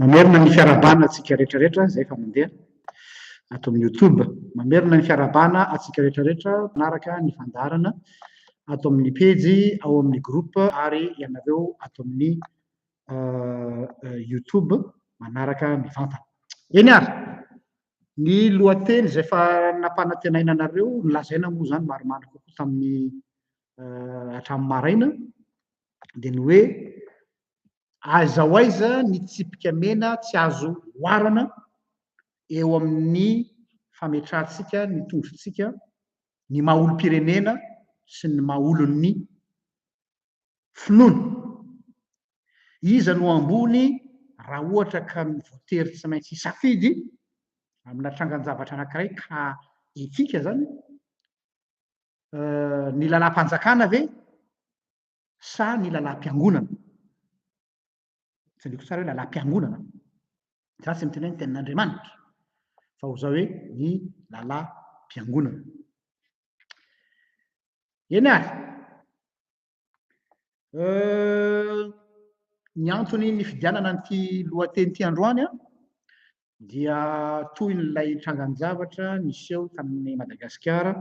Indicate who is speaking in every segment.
Speaker 1: Mamerina ny fiarahabana antsika rehetra rehetra izay efa mandeha ato amin'ny youtube. Mamerina ny fiarahabana antsika rehetra rehetra manaraka ny fandaharana ato amin'ny pejy, ao amin'ny groupe ary ianareo ato amin'ny youtube manaraka mivantana. Eny ary, ny lohateny izay efa nampanantenaina anareo, nolazaina moa izany maromaro kokoa tamin'ny hatramin'ny maraina dia ny hoe Aiza ho aiza ny tsipika mena tsy azo oharana eo amin'ny fametrahantsika ny tondrotsika, ny maha olom-pirenena sy ny maha olon'ny finoana? Iza no ambony raha ohatra ka ny voatery tsy maintsy hisafidy amina trangan-javatra anankiray ka etika izany? Ny lalam-panjakana ve? sa ny lalam-piangonana? Tsy adinoko tsara hoe lalam-piangonana ve? Za tsy miteny hoe ny tenin'Andriamanitra, fa ho zao hoe ny lalam-piangonana. Eny ary, ny antony nifidianana an'ity lohateny ity androany an, dia tohin'ilay trangan-javatra niseho tamin'i Madagasikara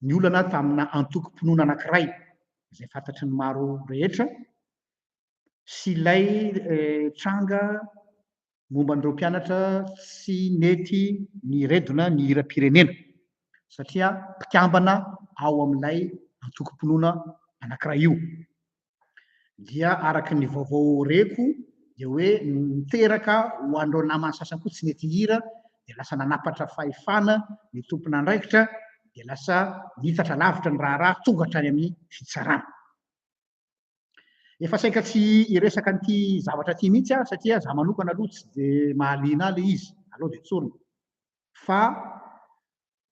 Speaker 1: ny olana tamina antokom-pinoana anankiray izay fantatry ny maro rehetra sy ilay tranga momba an'ireo mpianatra tsy nety niredona ny hiram-pirenena satria mpikambana ao amin'ilay antokom-pinoana anankiray io. dia araka ny vaovao reko dia hoe niteraka ho an'ireo namany sasany koa tsy nety hira dia lasa nanapatra fahefana ny tompon'andraikitra dia lasa nitatra lavitra ny raharaha tonga hatrany amin'ny fitsarana. Efa saika tsy hiresaka an'ity zavatra ity mihitsy aho satria za manokana aloha tsy dia mahaliana ahy ilay izy, aleo dia tsorina. Fa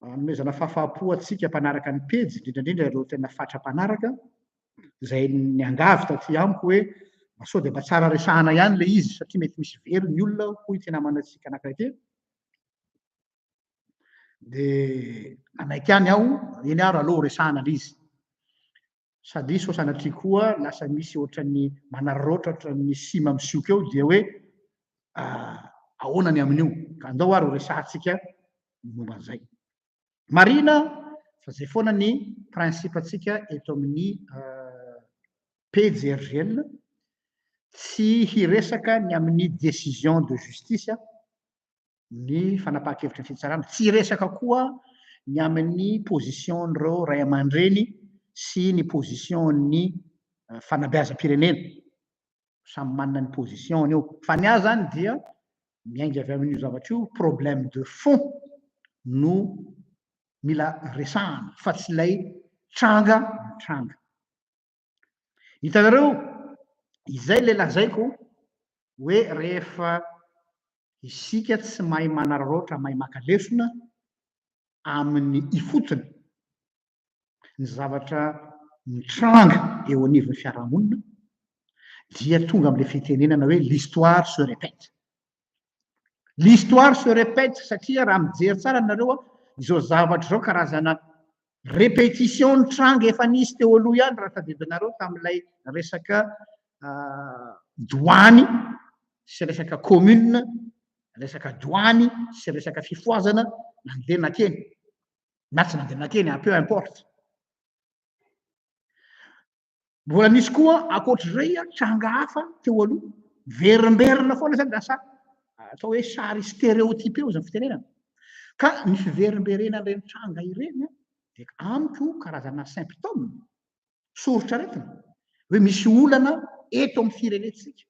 Speaker 1: anomezana fahafaham-po antsika mpanaraka ny pejy, indrindra indrindra ireo tena fatra mpanaraka, izay niangavy taty amiko hoe mba sao dia mba tsara resahana ihany ilay izy satria mety misy very ny olona, hoy ity namanantsika anankiray ity. Dia nanaiky ihany aho, eny ary aleo horesahana ilay izy. sady sao sanatria koa lasa misy ohatran'ny manararaotra ohatran'ny sima misioka eo dia hoe ahoana ny amin'io ka andao ary ho resahantsika momba an'izay marina fa zay foana ny principe antsika eto amin'ny pjrgn tsy hiresaka ny amin'ny décision de justice ny fanapahan-kevitra fitsarana. Tsy hiresaka koa ny amin'ny position-n'ireo ray aman-dreny sy ny position-n'ny eh, fanabeazam-pirenena. Samy manana ny position-ny io. Fa ny ahy zany dia miainga avy amin'io zavatra io, problème de fond no mila resahana fa tsy ilay tranga tranga. Hitanareo, izay ilay lazaiko hoe rehefa isika tsy mahay manararaotra, mahay maka lesona amin'ny ifotony ny zavatra mitranga eo anivon'ny fiarahamonina dia tonga amin'ilay fitenenana hoe l'histoire se répète. L'histoire se repète satria raha mijery tsara nareo izao zavatra izao karazana repetition nitranga efa nisy teo aloha ihany raha tadidio nareo tamin'ilay resaka doany sy resaka commune resaka doany sy resaka fifoazana nandeha nakeny na tsy nandeha nakeny peu importe Mbola nisy koa ankoatr'izay tranga hafa teo aloha, miverimberina foana izany lasa atao hoe sary stéréotypé izany fitenenana. Ka ny fiverimberenan'ireny tranga ireny dia amiko karazana symptôme, soritr'aretina, hoe misy olana eto amin'ny firenentsika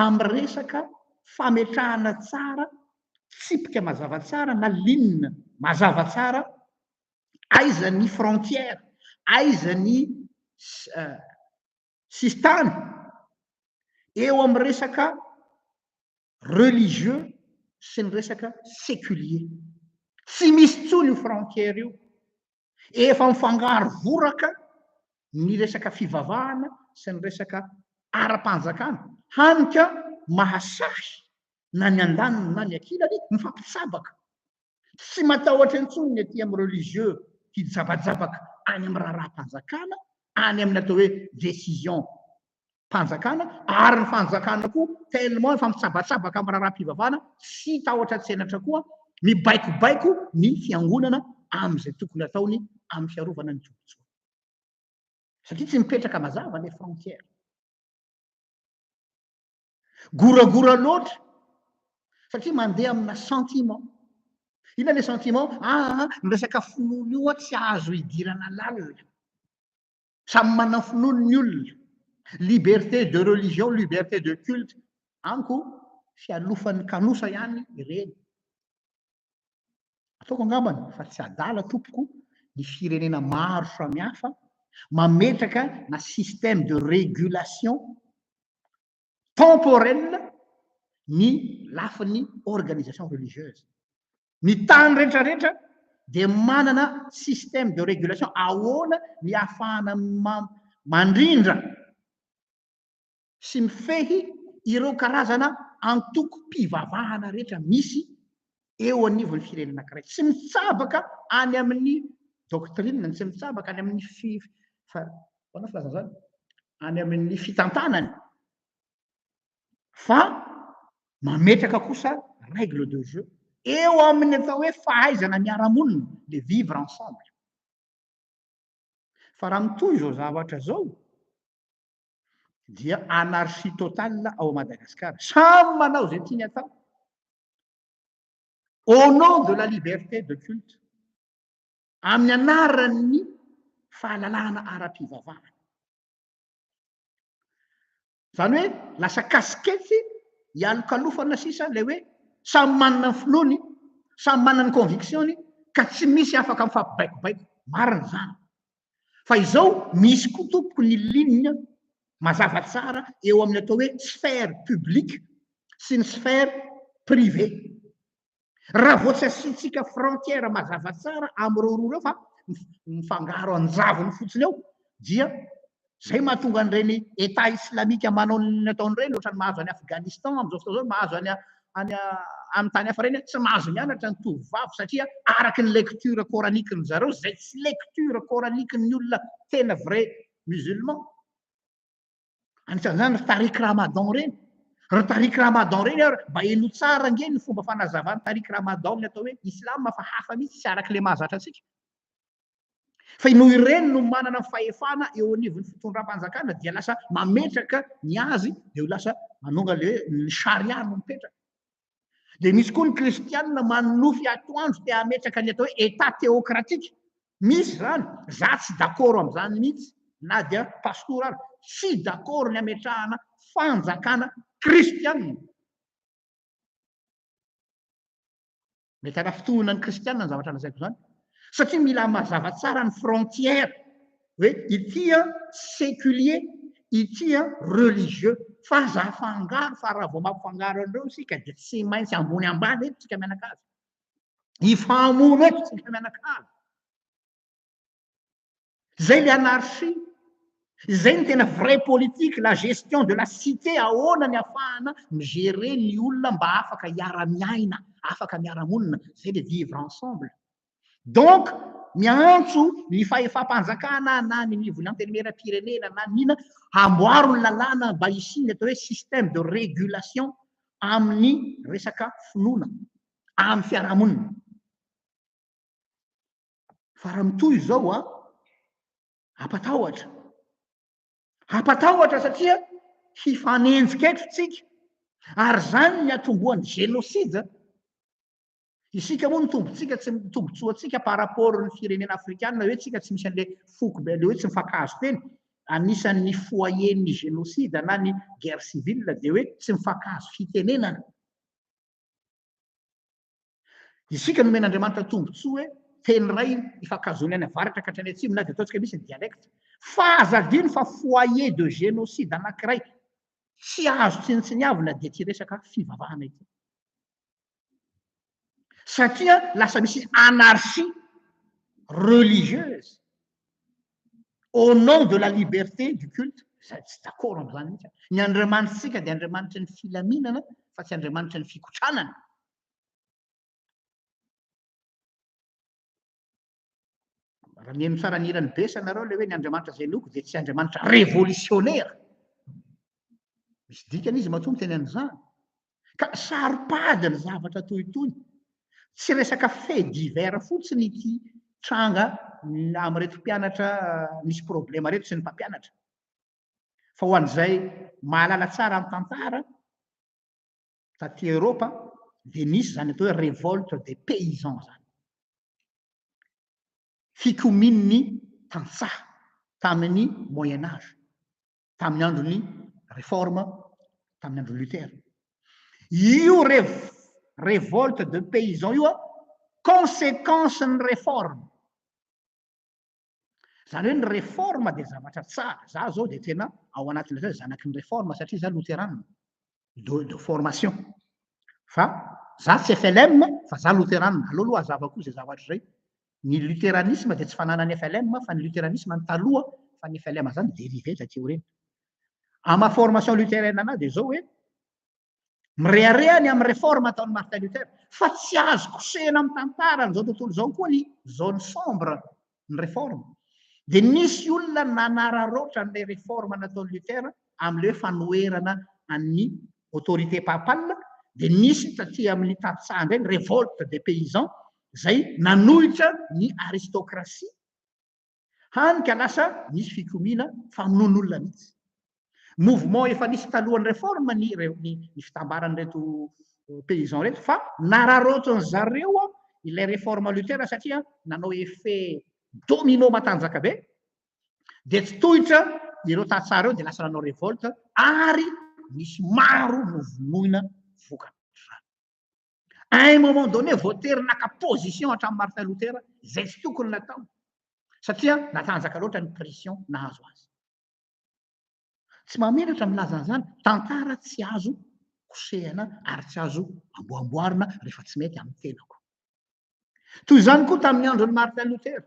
Speaker 1: amin'ny resaka fametrahana tsara tsipika mazava tsara na ligne mazava tsara aiza ny frontière, aiza ny sisintany eo amin'ny resaka religieux sy ny resaka seculier. Tsy misy intsony io frontière io. Efa mifangaro voraka ny resaka fivavahana sy ny resaka ara-panjakana. Hany ka mahasahy na ny andaniny na ny ankilany mifampitsabaka. Tsy matahotra intsony ny aty amin'ny religieux hijabajabaka any amin'ny raharaham-panjakana, any amin'ny atao hoe décision mpanjakana, ary ny fanjakana koa tellement efa mitsabatsabaka amin'ny raharaham-pivavahana, tsy tahotra tsenatra koa, mibaikobaiko ny fiangonana amin'izay tokony ataony amin'ny fiarovana ny tombontsoany. Satria tsy mipetraka mazava ilay frontière. Goragora loatra satria mandeha amina sentiment. Inona le sentiment? Ah, ny resaka finoana io tsy azo idirana lalina. Samy manana finoany ny olona. Liberté de religion, liberté de culte, amiko fialofan'ny kanosa ihany ireny. Ataoko angambany fa tsy adala tompoko ny firenena maro samihafa mametraka na système de régulation temporelle ny lafiny organisation religieuse. Ny tany rehetra rehetra dia manana système de régulation ahoana ny ahafahana mandrindra sy mifehy ireo karazana antokom-pivavahana rehetra misy eo anivon'ny firenena anankiray. Tsy mitsabaka any amin'ny doctrine, ny tsy mitsabaka any amin'ny fi, fa, ahoana ny filazana izany? any amin'ny fitantanany, fa mametraka kosa règle de jeu eo amin'ny atao hoe fahaizana miara-monina, le vivre ensemble. Fa raha mitohy izao zavatra izao, dia anarchie totale ao Madagascar. Samy manao izay tiany atao. Au nom de la liberté de culte, amin'ny anaran'ny fahalalahana ara-pivavahana. Izany hoe lasa kasikety ialokalofana sisa ilay hoe samy manana ny filoany, samy manana ny conviction-ny ka tsy misy afaka mifampibaikobaiko. Marina izany. Fa izao misy koa tompoko ny ligne mazava tsara eo amin'ny atao hoe sphère publique sy ny sphère privée. Raha vao tsy asiantsika frontière mazava tsara amin'ireo roa ireo fa mifangaro anjavony fotsiny eo dia izay mahatonga an'ireny Etat islamika manao ny ataony ireny ohatran'ny mahazo an'i Afghanistan amin'izao fotoana izao, mahazo an'i any amin'ny tany hafa ireny tsy mahazo mianatra ny tovovavy satria araka ny lecture coranique ny zareo izay tsy lecture coranique ny olona tena vrai musulman anisan'izany ry tariq ramadan ireny ry tariq ramadan ireny ary mba heno tsara ange ny fomba fanazavany tariq ramadan ny atao hoe islam fa hafa mihitsy tsy araka ilay mahazatra antsika Fa noho ireny no manana fahefana eo anivon'ny fitondram-panjakana dia lasa mametraka ny azy dia ho lasa manonga le ny sharia no mipetraka. Dia misy koa ny kristianina manonofy atoandro te hametraka ny atao hoe état théocratique. Misy izany, za tsy dakoro amin'izany mihitsy na dia pastora ary, tsy dakoro ny hametrahana fanjakana kristianina. Mety hanafintohina ny kristiana ny zavatra lazaiko izany, satria mila mazava tsara ny frontière hoe ity séculier, ity religieux, fa aza afangaro fa raha vao mampifangaro an'ireo isika dia tsy maintsy ambony ambany eto isika mianakavy, hifahamono eto isika mianakavy. Zay le anarchie. Zay ny tena vraie politique, la gestion de la cité, ahoana ny afahana mi-gerer ny olona mba afaka hiara-miaina, afaka miara-monina, zay le vivre ensemble. Donc, miantso ny fahefam-panjakana na ny nivon'ny antenimieram-pirenena na ny inona, hamboaro ny lalàna mba hisian'ny atao hoe système de régulation amin'ny resaka finoana, amin'ny fiarahamonina. Fa raha mitohy izao a, hampatahotra. Hampatahotra satria hifanenjika eto tsika. Ary izany ny atombohan'ny génocide. Isika moa ny tombontsika tsy ny tombotsoantsika par rapport ny firenena afrikana hoe tsika tsy misy an'ilay foko be an'ilay hoe tsy mifankahazo teny. Anisan'ny foyer-n'ny génocide na ny guerre civile dia hoe tsy mifankahazo fitenenana. Isika nomen'Andriamanitra tombontsoa hoe teny iray ifankahazoan'ny any avaratra ka hatrany atsimo na dia ataontsika misy ny dialecte fa aza adino fa foyer de génocide anankiray tsy azo tsinontsiniavina dia ity resaka fivavahana ity. Satria lasa misy anarchie religieuse. au nom de la liberté du culte, izay tsy d'accord amin'izany mihitsy aho. Ny Andriamanitritsika dia Andriamanitry ny filaminana fa tsy Andriamanitry ny fikotranana. Raha mihaino tsara ny hiran'i Bessa nareo ilay hoe ny Andriamanitra izay inoako dia tsy Andriamanitra revolisionera. Misy dikany izy matoa miteny an'izany. Ka saro-pady ny zavatra toy itony. Tsy resaka fait divers fotsiny ity tranga amin'ireto mpianatra misy problema ireto sy ny mpampianatra. Fa ho an'izay mahalala tsara ny tantara, taty Eoropa dia nisy izany atao hoe révolte des paysans izany. Fikomian'ny tantsaha tamin'ny moyen âge. tamin'ny andron'ny Réforme, tamin'ny andron'i Luther. Io révolte de paysans io an, conséquence ny Réforme. Zany hoe ny Réforme dia zavatra tsara. Za zao dia tena ao anatin'ilay zanaky ny Réforme satria za Lutheran. de, de formation. Fa za tsy FLM fa za loteranina. Aleo aloha hazavako izay zavatra izay. Ny luteranisme dia tsy fananan'ny FLM fa ny luteranisme ny taloha fa ny FLM zany dérivé taty aoriana. Amin'ny maha formation luthérienne anahy dia izao hoe mirehareha ny amin'ny réforme ataon'i Martin Luther fa tsy azo kosehina amin'ny tantara an'izao tontolo izao koa ny zone sombre ny reforme dia nisy olona nanararaotra an'ilay reforme nataon'i Luther amin'ilay hoe fanoherana an'ny autorité papale dia nisy taty amin'ny tantsaha indray ny révolte des paysans izay nanohitra ny aristocratie hany ka lasa nisy fikomiana famonoan'olona mihitsy Mouvement efa nisy talohan'ny réforme ny ny fitambaran'ireto paysans ireto fa nararaotin'ny zareo ilay réforme Luther satria nanao effet domino matanjaka be dia tsy tohitra ireo tantsaha ireo dia lasa nanao révolte ary nisy maro novonoina vokany. À un moment donné, voatery naka position hatramin'ny Martin Luther izay tsy tokony natao satria natanjaka loatra ny pression nahazo azy. Tsy mahamenatra ny milaza an'izany. Tantara tsy azo kosehina ary tsy azo amboamboarina rehefa tsy mety amin'ny tenako. Toy izany koa tamin'ny andron'i Martin Luther.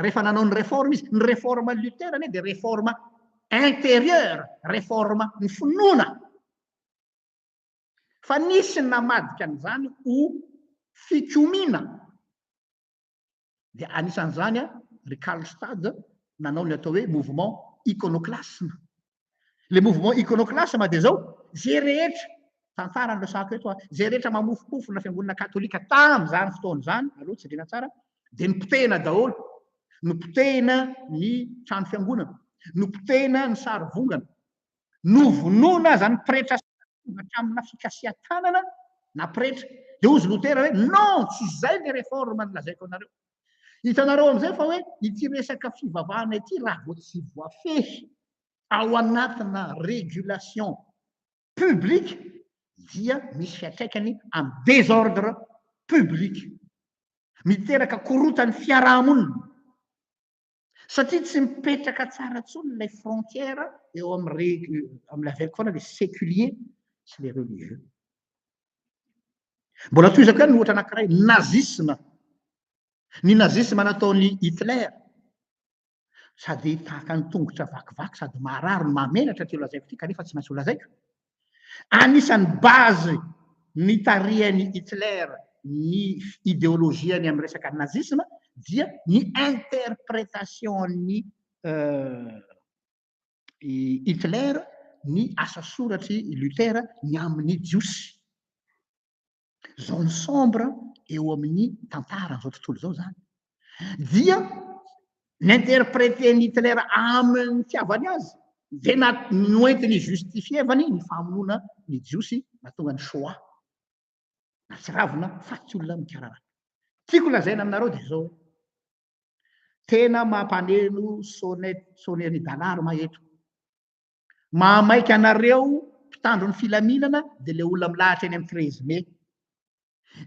Speaker 1: Rehefa nanao ny réforme izy, ny réforme Luther anie dia réforme intérieure, réforme ny finoana. Fa nisy namadika an'izany ho fikomiana. dia anisan'izany ry Karlstadt nanao ny atao hoe mouvement iconoclasme. Le mouvement iconoclasme dia zao, zay rehetra tantara no resahako eto a, zay rehetra mamofomofo na fiangonana katolika tamin'izany fotoana izany, aleo jerena tsara, dia nopotehina daholo, nopotehina ny trano fiangonana, nopotehina ny sarivongana, Novonoina aza ny pretra sasany hatramina fikasihan-tanana na pretra. Dia hozy Lotera hoe, Non! Tsy izay ilay reforme nolazaiko anareo. Hitanareo amin'izay fa hoe ity resaka fivavahana ity raha vao tsy voafehy ao anatina régulation publique dia misy fiantraikany amin'ny désordre public. Miteraka korotan'ny fiaraha-monina. satria tsy mipetraka tsara tsony ilay frontière eo amle avec foana le seculier sy le religieux mbola toizako ihany ny ohatra anakiray nazisme ny nazisme nataony hitler sady tahaka ny tongotra vakivaky sady maharary no mahamenatra ty lazaiko ty kanefa tsy maintsy ho lazaiko Anisan'ny base nitarihan'i Hitler ny ideolojiany amin'ny resaka nazisma dia ny interpretation-n'i Hitler ny asa soratr'i Luther ny amin'ny Jiosy. zone sombre eo amin'ny tantaran'izao tontolo izao zany dia n'interpréter Hitler amin'ny fitiavany azy dia na noentiny justifievany ny famonoana ny jiosy natonga ny shoah na tsiravina faty olona mikararaka tiako lazaina aminareo dia zao tena mampaneno sonnet sonnet-n'i Dalarme eto Mahamaika anareo mpitandro ny filaminana dia ilay olona milahatra eny amin'ny treize mai.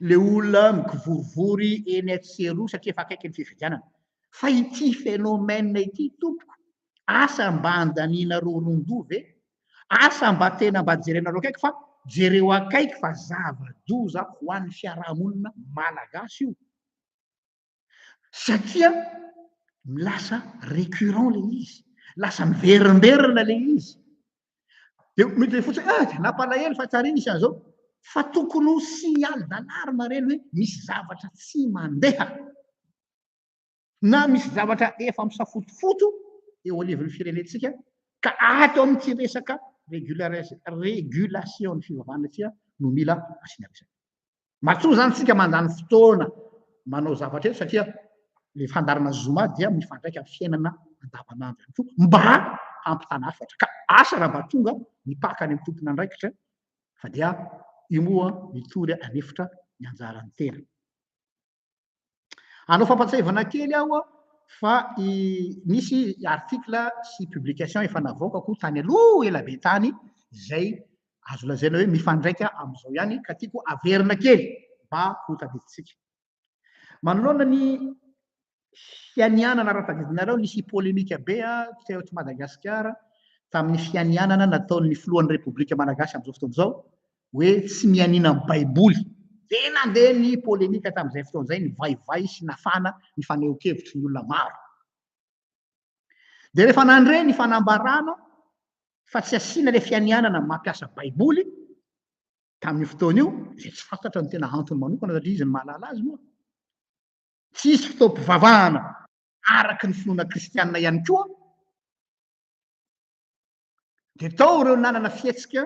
Speaker 1: Ilay olona mikivorivory eny etsy sy eroa satria efa akaiky ny fifidianana. Fa ity phénomène ity tompoko, asa mba andanianareo ron-doha ve? Asa mba tena mba jerenareo akaiky fa jereo akaiky fa zava-doza ho an'ny fiarahamonina malagasy io. satria lasa recurrent le izy lasa miverimberina le izy de mety le fotsiny ah dia nampalahelo fa tsary nisy an'izao fa tokony ho signal d'alarme ireny hoe misy zavatra tsy mandeha na misy zavatra efa misafotofoto eo anivon'ny firenentsika ka ato amin'ity resaka régulation ny fivavahana ity no mila asiana resaka Matoa zany tsika mandany fotoana manao zavatra eto satria le fandaharana zoma dia mifandraika amin'ny fiainana andavanandro ihany koa mba hampitana hafatra ka asa raha mba tonga mipaka any amin'ny tompon'andraikitra fa dia io moa mitory anefitra ny anjaran'ny tena. Hanao fampatsiahivana kely aho fa nisy article sy publication efa navoaka koa tany aloha ela be tany izay azo lazaina hoe mifandraika amin'izao ihany ka tiako averina kely mba ho tadidintsika. Manoloana ny fianianana raha tadidinareo nisy polemika be teo eto Madagasikara tamin'ny fianianana nataon'ny filohan'ny Repoblika Malagasy amin'izao fotoana izao hoe tsy mianiana ny Baiboly. Dia nandeha ny polemika tamin'izay fotoana izay, nivaivay sy nafana ny fanehoan-kevitry ny olona maro. Dia rehefa nandre ny fanambarana fa tsy asiana ilay fianianana ny mampiasa Baiboly, tamin'io fotoana io, izay tsy fantatra ny tena antony manokana satria izy no mahalala azy moa, tsy hisy fotoam-pivavahana araka ny finoana kristianina ihany koa, Dia tao ireo nanana fihetsika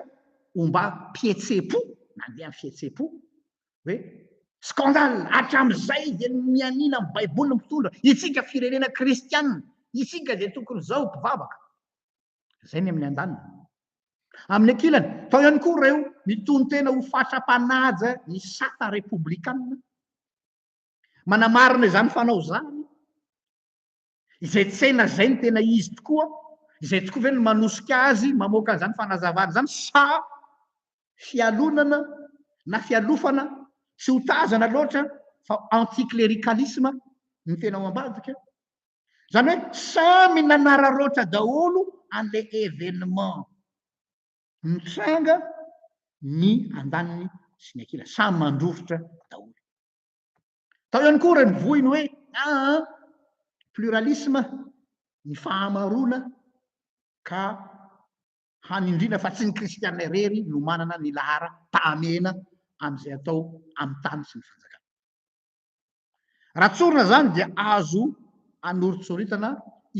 Speaker 1: ombam-pihetseham-po, nandeha amin'ny fihetseham-po, hoe scandale, hatramin'izay dia mianiana amin'ny Baiboly ny mpitondra, isika firenena kristiana, isika dia tokony izao mpivavaka. Izay ny amin'ny andaniny. Amin'ny ankilany, tao ihany koa ireo mitonon-tena ho fatra-panaja ny sata repoblikanina. Manamarina izany fanao izany Izay tsaina izay no tena izy tokoa? Izay tokoa ve no manosika azy mamoaka an'izany fanazavana izany sa fialonana na fialofana tsy ho tazana loatra fa anti-clericalisme no tena ao ambadika? Izany hoe samy nanararaotra daholo an'ilay événement nitranga ny andaniny sy ny ankilany. Samy mandrovitra daholo. Tao ihany koa renivohiny hoe aa pluralisme, ny fahamaroana, ka hanindriana fa tsy ny kristiana irery no manana ny laharam-pahamehana amin'izay atao amin'ny tany sy ny fanjakana. Raha tsorina izany dia azo anoritsoritana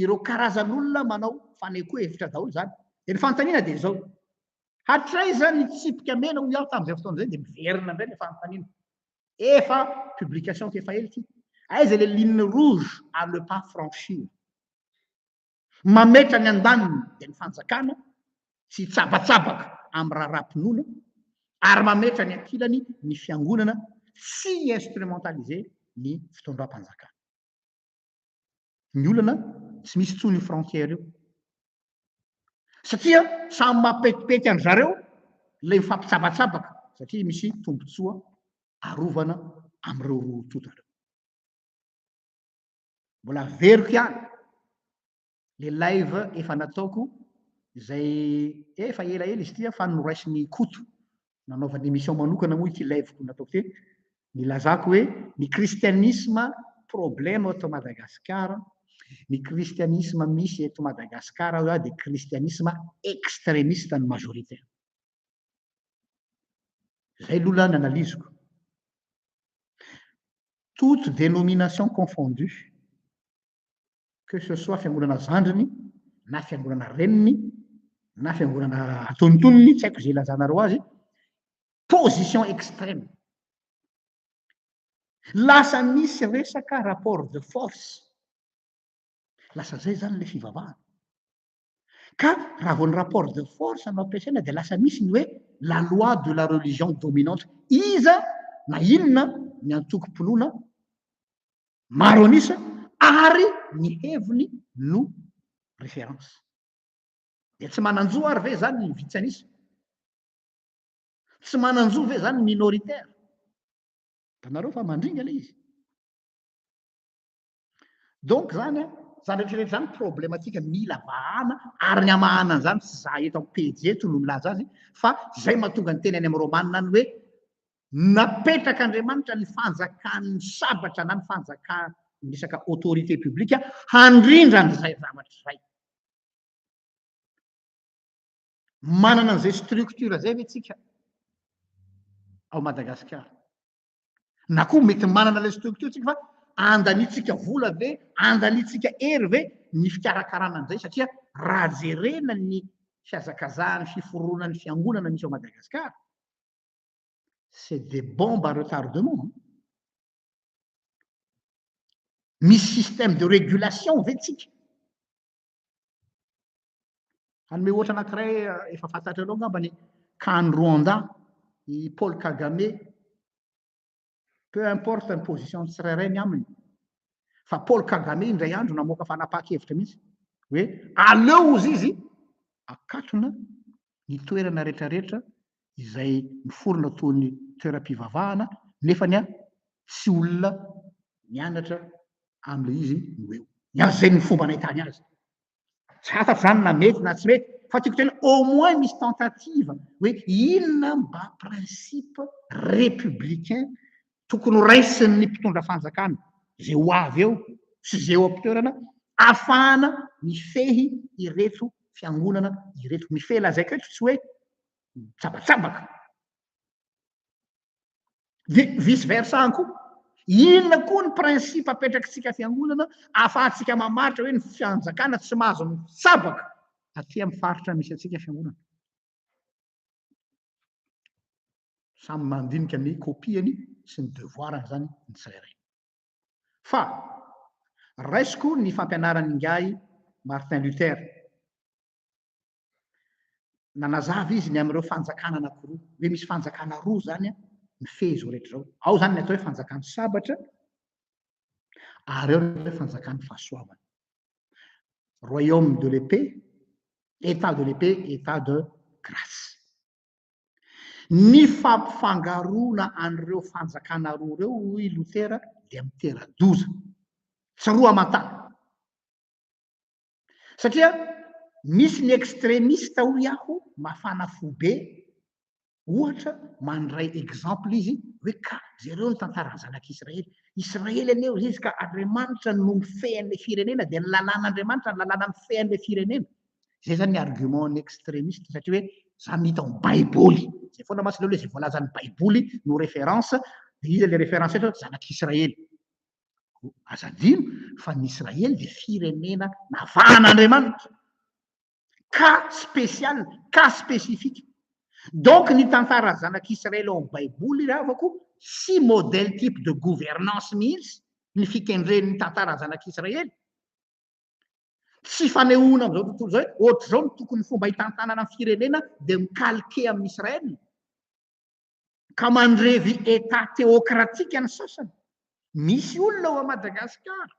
Speaker 1: ireo karazan'olona manao fanehoan-kevitra daholo izany. Dia ny fanontaniana dia izao, hatraiza ny tsipika mena hoy aho tamin'izay fotoana izay? Dia miverina indray ilay fanontaniana. Efa publication ko efa ela ity. Aiza le ligne rouge à le pas franchir? Mametra ny andaniny de ny fanjakana tsy hitsabatsabaka am raharaham-pinoana ary mametra ny ankilany ny fiangonana tsy hi-instrumentaliser ny fitondram-panjakana. Ny olana tsy misy intsony io frontière io. Satria samy mapetipety an-dry zareo ilay mifampitsabatsabaka satria misy tombontsoa arovana amin'ireo roa tonta ireo. Mbola averiko ihany le live efa nataoko izay efa ela ela izy ity fa noraisin'i Koto nanaovany émission manokana moa ity live-ko nataoko ity nilazako hoe ny kristianisma problème eto Madagascar ny kristianisma misy eto Madagascar hoe aho dia kristianisma extrémiste ny majorité izay lola ny analyse-ko toute dénomination confondue que ce soit fiangonana zandriny na fiangonana reniny na fiangonana antonintoniny tsy haiko izay ilazanareo azy position extrême lasa misy resaka rapport de force lasa zay zany le fivavahana Ka raha vao ny rapport de force no ampiasaina dia lasa misy ny hoe la loi de la religion dominante. Iza na inona ny antokom-pinoana maro an'isa ary ny heviny no référence. Dia tsy manan-jo ary ve izany ny vitsy an'isa? Tsy manan-jo ve izany ny minoritaire? Hitanareo fa mandringa ilay izy. Donc zany a, zany rehetra rehetra zany problematika mila vahana ary ny hamahana an'izany tsy za eto amin'ny pejy eto no milaza azy fa zay mahatonga ny teny any amin'ny Romanina any hoe napetraka Andriamanitra ny fanjakan'ny sabatra na ny fanjakan'ny resaka autorité publique handrindra an'izay zavatra izay. Manana an'izay structure zay ve tsika ao Madagasikara? Na koa mety manana ilay structure tsika fa andaniantsika vola ve, andaniantsika hery ve ny fikarakarana an'izay satria raha jerena ny fihazakazahan'ny fiforonan'ny fiangonana misy ao Madagascar, c'est des bombes à retardement an! Misy système de régulation ve tsika? Hanome ohatra anankiray efa fantatrareo angamba ny kany Rwanda, i Paul Kagame. Peu importe ny position tsirairay ny aminy. Fa Paul Kagame indray andro namoaka fanapahan-kevitra mihitsy hoe aleo ozy izy akatona ny toerana retraretra izay miforona toy ny toeram-pivavahana nefa ny ahy tsy olona mianatra amin'ilay izy no eo. Ny azy izay no fomba nahitany azy. Tsy fantatro izany na mety na tsy mety fa tiako tena au moins misy tentative hoe inona mba principe républicain tokony ho raisin'ny mpitondra fanjakana izay ho avy eo sy izay eo am-pitoerana ahafahana mifehy ireto fiangonana ireto. Mifehy lazaiko eto tsy hoe mitsabatsabaka. Dia vice versa ihany koa. Inona koa ny principe apetrakitsika fiangonana ahafahantsika mamaritra hoe ny fanjakana tsy mahazo mitsabaka aty amin'ny faritra misy antsika fiangonana. Samy mandinika ny copie-ny sy ny devoara-ny izany ny tsirairay. Fa raisiko ny fampianaran'ingahy Martin Luther. Nanazava izy ny amin'ireo fanjakana anankiroa, hoe misy fanjakana roa izany mifehy izao rehetra izao. Ao izany ny atao hoe fanjakan'ny sabatra, ary ao ny atao hoe fanjakan'ny fahasoavana. Royaume de l'épée, État de l'épée, État de grâce. Ny fampifangaroana an'ireo fanjakana roa ireo, hoy Lotera, dia mitera-doza. Tsaroa aman-tany. Satria misy ny extremiste, hoy aho, mafana fo be, Ohatra, mandray exemple izy hoe ka jereo ny tantaran'ny zanak'i Israely. Israely anie hoy izy ka Andriamanitra no mifehy an'ilay firenena dia ny lalàn'Andriamanitra no lalàna mifehy an'ilay firenena. Izay zany ny argument ny extremiste satria hoe zany no hita ao amin'ny baiboly. Izay foana mantsy ilay hoe izay voalazan'ny baiboly no référence dia iza ilay référence eto hoe zanak'i Israely. Koa aza adino fa ny Israely dia firenena navahan'Andriamanitra. cas spécial, cas spécifique. Donc ny tantara zanak'Israely ao amin'ny Baiboly ry havako, tsy modèle type de gouvernance mihitsy ny fikendren'ny tantaran'ny zanak'Israely. Tsy fanehoana amin'izao tontolo izao hoe ohatr'izao no tokony fomba hitantanana ny firenena dia mi-calquer amin'i Israël, ka mandrevy État théocratique ny sasany. Misy olona ao Madagasikara.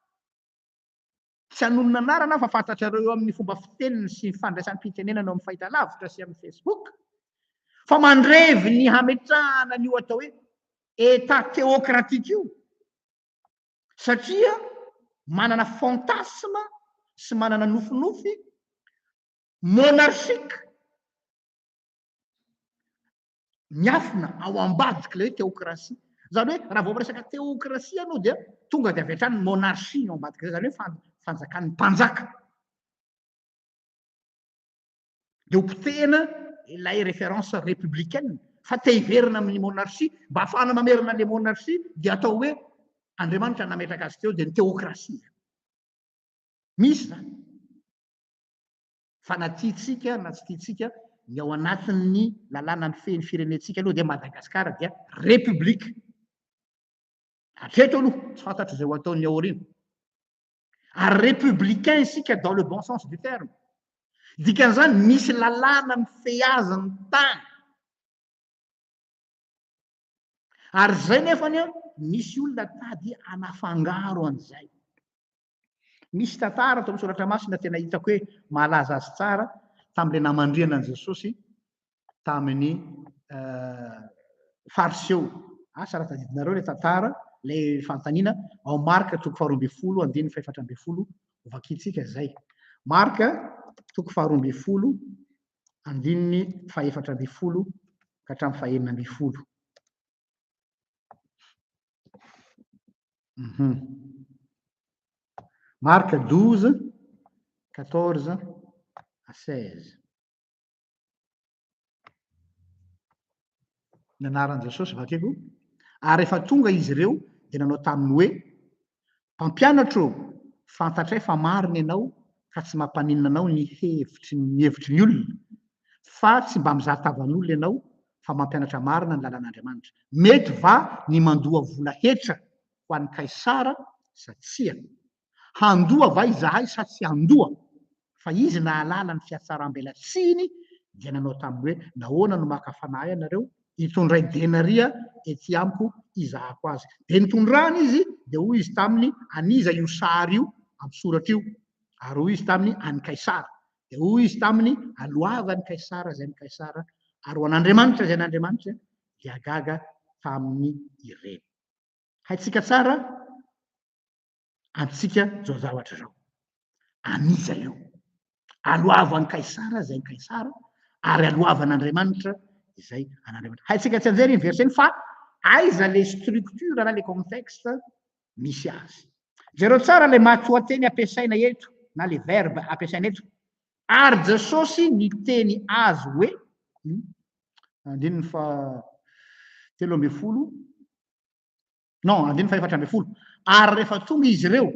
Speaker 1: Tsy hanonona anarana aho fa fantatrareo eo amin'ny fomba fiteniny sy fandraisam-pitenenana eo amin'ny fahitalavitra sy amin'ny Facebook fa mandrevy ny hametrahana an'io atao hoe Etat théocratique io satria manana fantasme sy manana nofinofy monarchique miafina ao ambadik'ilay hoe teokrasia. Izany hoe raha vao miresaka teokrasia ianao dia tonga dia avy hatrany ny monarchie ny ao ambadik'izay, izany hoe fan- fanjakan'ny mpanjaka. Dia hopotehina ilay référence républicaine fa te hiverina amin'ny monarchie, mba hahafahana mamerina an'ilay monarchie dia atao hoe Andriamanitra no nametraka azy teo dia ny teokrasia. Misy izany. Fa na tiantsika na tsy tiantsika, ny ao anatin'ny lalàna mifehy ny firenentsika aloha dia Madagasikara dia Repoblika. Hatreto aloha, tsy fantatro izay ho ataon'ny aoriana. Ary Repoblicain isika dans le bon sens du terme. Dikan'izany, misy lalàna mifehy azy ny tany. Ary izay nefany, misy olona tady hanafangaro an'izay. Misy tantara ato amin'ny soratra masina tena hitako hoe mahalaza azy tsara tamin'ilay namandrihana an'i Jesosy tamin'ny fariseo. Asa raha tadidinareo ilay tantara, ilay fanontaniana ao Marka toko faharoa ambin'ny folo andininy fahefatra ambin'ny folo hovakintsika izay. Marka toko faharoa ambin'ny folo andininy fahefatra ambin'ny folo ka hatramin'ny fahenina ambin'ny folo. Marc douze, quatorze à seize. Ny anaran'i Jesosy vakiko, ary rehefa tonga izy ireo dia nanao taminy hoe, Mpampianatra ô! Fantatray fa marina ianao ka tsy mampaninona anao ny hevitry ny hevitry ny olona, fa tsy mba mizaha tavan'olona ianao fa mampianatra marina ny lalan'Andriamanitra. Mety va ny mandoa vola hetra ho an'i Kaisara sa tsia? Handoa va izahay sa tsy handoa? fa izy nahalala ny fiatsaram-belatsihiny dia nanao taminy hoe, Nahoana no maka fanahy ianareo? Hitondray denaria ety amiko hizahako azy. Dia nitondrany izy, dia hoy izy taminy, An'iza io sary io amin'ny soratra io? Ary hoy izy taminy, An'i Kaisara. Dia hoy izy taminy, Aloava an'i Kaisara izay an'i Kaisara, ary ho an'Andriamanitra izay an'Andriamanitra. Dia gaga taminy ireny. Haintsika tsara antsika izao zavatra izao. An'iza io? Aloava an'i Kaisara izay an'i Kaisara ary aloava an'Andriamanitra izay an'Andriamanitra. Haintsika tsy anjery iny verset iny fa aiza le structure na le contexte misy azy. Jereo tsara le matoanteny ampiasaina eto na le verbe ampiasaina eto. Ary Jesosy niteny azy hoe hmm, andininy fa telo ambin'ny folo non andininy fahefatra ambin'ny folo ary rehefa tonga izy ireo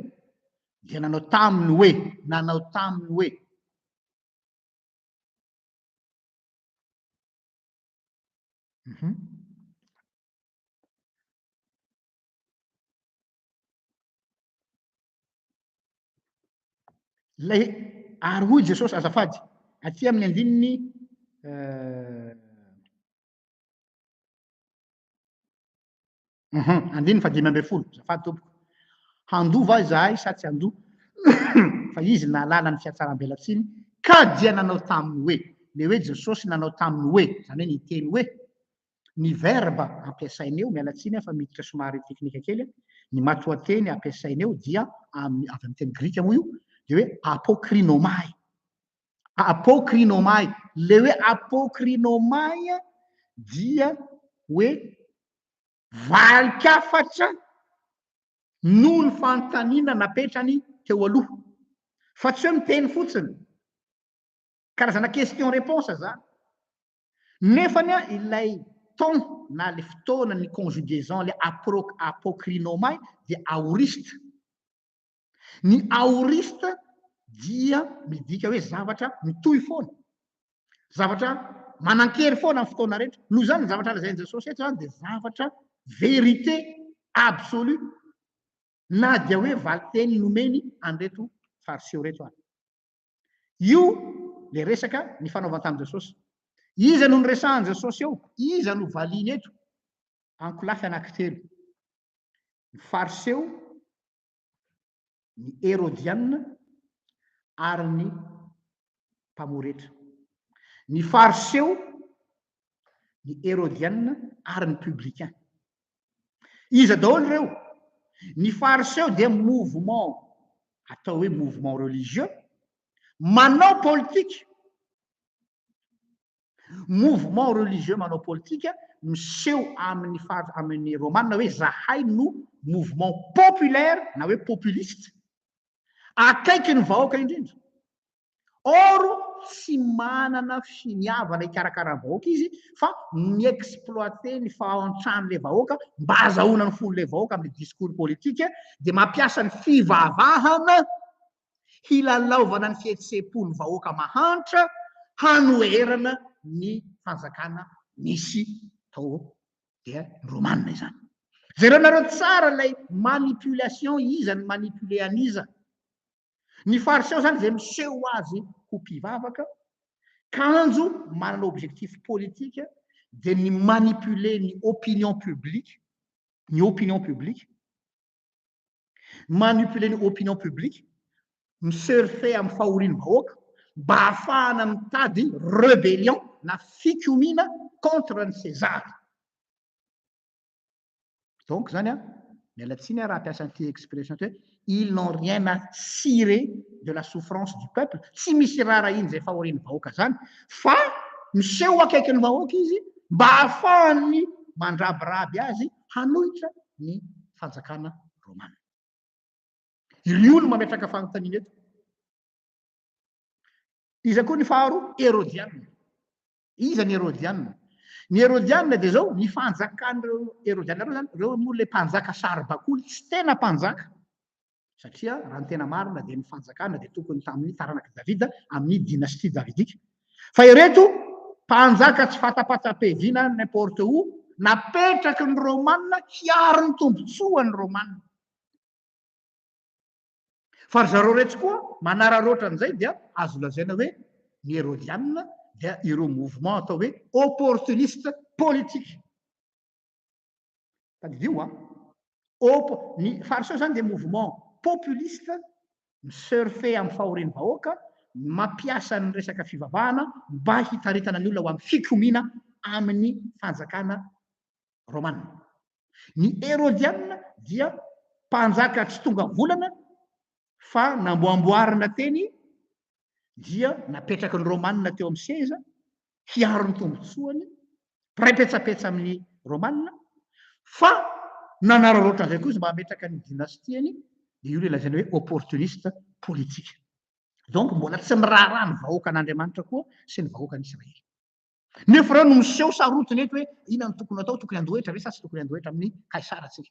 Speaker 1: dia nanao taminy hoe nanao taminy hoe mhm. lay ary hoy jesosy azafady aty amin'ny andininy euh, Uhum, andininy fahadimy ambin'ny folo, azafady tompoko. Handoa va izahay sa tsy handoa? Fa izy nahalala ny fiatsaram-belatsiny ka dia nanao taminy hoe, ilay hoe Jesosy nanao taminy hoe, izany hoe ny teny hoe, ny verba ampiasainy eo, miala tsiny aho fa miditra somary teknika kely, ny matoanteny ampiasainy eo dia avy amin'ny teny grika moa io, dia hoe apokrinomai. Apokrinomai, ilay hoe apokrinomai dia hoe valin-kafatra noho ny fanontaniana napetrany teo aloha. Fa tsy hoe miteny fotsiny. Karazana question réponse izany. Nefa anie ilay temps na ilay fotoana ny conjugaison ilay apro, apokrinomai dia aorista. Ny aorista dia midika hoe zavatra mitohy foana, zavatra manan-kery foana amin'ny fotoana rehetra. Noho izany, ny zavatra lazain'i Jesosy eto izany dia zavatra vérité absolue, na dia hoe valin-teny nomeny an'ireto Fariseo ireto ary. Io ilay resaka nifanaovany tamin'i Jesosy. Iza no noresahan'i Jesosy eo? Iza no valiany eto? Ankolafy anankitelo. Ny Fariseo, ny Herodianina ary ny Mpamoretra. Ny Fariseo, ny Herodianina ary ny Publicain. Iza daholo ireo? Ny Fariseo dia mouvement, atao hoe mouvement religieux, manao politika. Mouvement religieux manao politika miseho amin'ny far amin'ny Romana hoe zahay no mouvement populaire na hoe populiste akaiky ny vahoaka indrindra. Or tsy manana finiavana hikarakara ny vahoaka izy fa mi-exploiter ny fahantran'ilay vahoaka mba hazahoana ny fon'ilay vahoaka amin'ny discours politique dia mampiasa ny fivavahana hilalaovana ny fihetseham-po ny vahoaka mahantra hanoherana ny fanjakana nisy tao dia ny Romana izany. Jereonareo tsara ilay manipulation iza ny manipuler an'iza. Ny fariseo izany izay miseho azy ho mpivavaka, kanjo manana objectif politika dia ny manipuler ny opinion publique, ny opinion publique, Manipuler ny opinion publique, mi-surfer amin'ny fahorian'ny vahoaka mba hahafahana mitady rebellion na fikomiana contre an'i César. Donc izany an, miala tsiny an raha hampiasa an'ity expression ity hoe, ils n'ont rien à cirer de la souffrance du peuple, tsy misy iraharahiany izay fahorian'ny vahoaka izany fa miseho akaikin'ny vahoaka izy mba hahafahany mandrabiraby azy, hanohitra ny fanjakana romana. Irio no mametraka fanontaniana eto. Iza koa ny faharoa? Herodianina. Iza ny Herodianina? Ny Herodianina dia izao, ny fanjakan'ireo Herodianina ireo izany, ireo moa ilay mpanjaka saribakoly, tsy tena mpanjaka. satria raha ny tena marina dia ny fanjakana dia tokony tamin'ny taranak'i Davida amin'ny dynastie davidika fa ireto mpanjaka tsy fatapatsapeviana n'importe où napetraky ny Romana hiaro ny tombontsoa ny Romana fa ry zareo reto koa manararoatra an'izay dia azo lazaina hoe ny Herodianina dia ireo mouvement atao hoe opportuniste politique Tadidio an! Op, ny Fariseo izany dia mouvement populiste mi-surfer amin'ny fahorian'ny vahoaka, mampiasa ny resaka fivavahana mba hitaritana ny olona ho amin'ny fikomiana amin'ny fanjakana Romana. Ny Herodianina dia mpanjaka tsy tonga volana fa namboamboarina teny dia napetraky ny Romana teo amin'ny seza hiaro ny tombontsoany mpiray petsapetsa amin'ny Romana, fa nanararaotra an'izay koa izy mba hametraka ny dinastiany, dia io ilay lazaina hoe opportuniste politique. Donc mbola tsy miraharaha ny vahoakan'Andriamanitra koa sy ny vahoakan'Israely. Nefa ireo no miseho sarotiny eto hoe inona no tokony atao, tokony handoa hetra ve sa tsy tokony handoa hetra amin'ny Kaisara tsika?